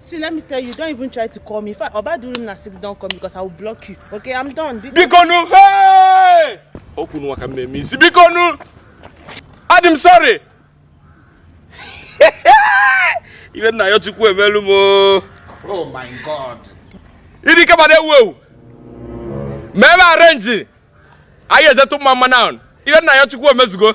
See, let me tell you, don't even try to call me. If I oba do na sick, don't call me because I will block you. Okay, I'm done. Be Bikonu, hey! Okwu nwa ka mmemme isi. Bikonu! Adị sorry. Ibe nna ya Chukwu emelu m Oh my God. Ịdị ike ma na-ewu ewu. Mee m arenji. Anyị eje tụọ mma mma na Ibe nna ya Chukwu emezugo.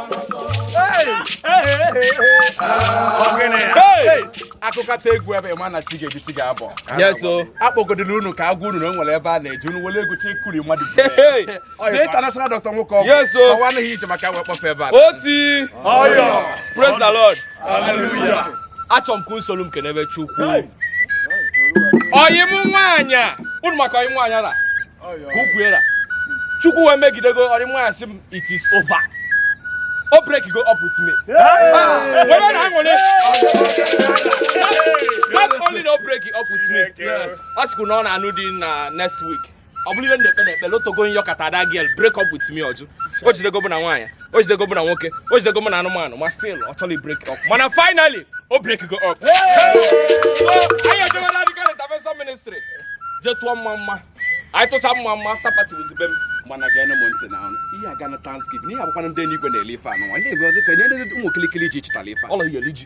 akụkọta egwu ebe ma na chi ga-eji chi ga-abọ akpọgodoro unu ka agwa unu na o nwere ebe a na-eji unu were egwu chi kuri mmadụ na international dọkta nwoke ọgwụ ọwa anaghị ije maka wee kpọfe ebe a oti ọyọ praise the lord hallelujah achọ m ka unu soro m kenebe chukwu ọyị m nwaanyị unu maka ọyị nwaanyị ara ka ukwuera chukwu wee megide ka ọyị m nwaanyị sị m it is over o break go up with me were na-aṅụrị not only na o break up with me ọ sịkwu na ọ na-anụ di na next week ọ bụrụ ihe na-ekpe na ekpele otego m yọ ka that girl break up with me ọ jụ o jidego mụ na nwaanyị o jidego mụ na nwoke o jidego mụ na anụmanụ ma still ọ chọrọ break up mana finally o break go up so anyị ejewela dịka intervention ministry je tụọ mma mma anyị tụcha mma mma after party wezibe m mana geenụ m ntị na ọnụ ihe aga na thanksgiving ihe abụkwana ndị enyi igwe na-ele ife anụ nwa ndị egwe ọzọ ka nye ndị ụmụ kilikili ji chịtara ife ọlọ iyeli ji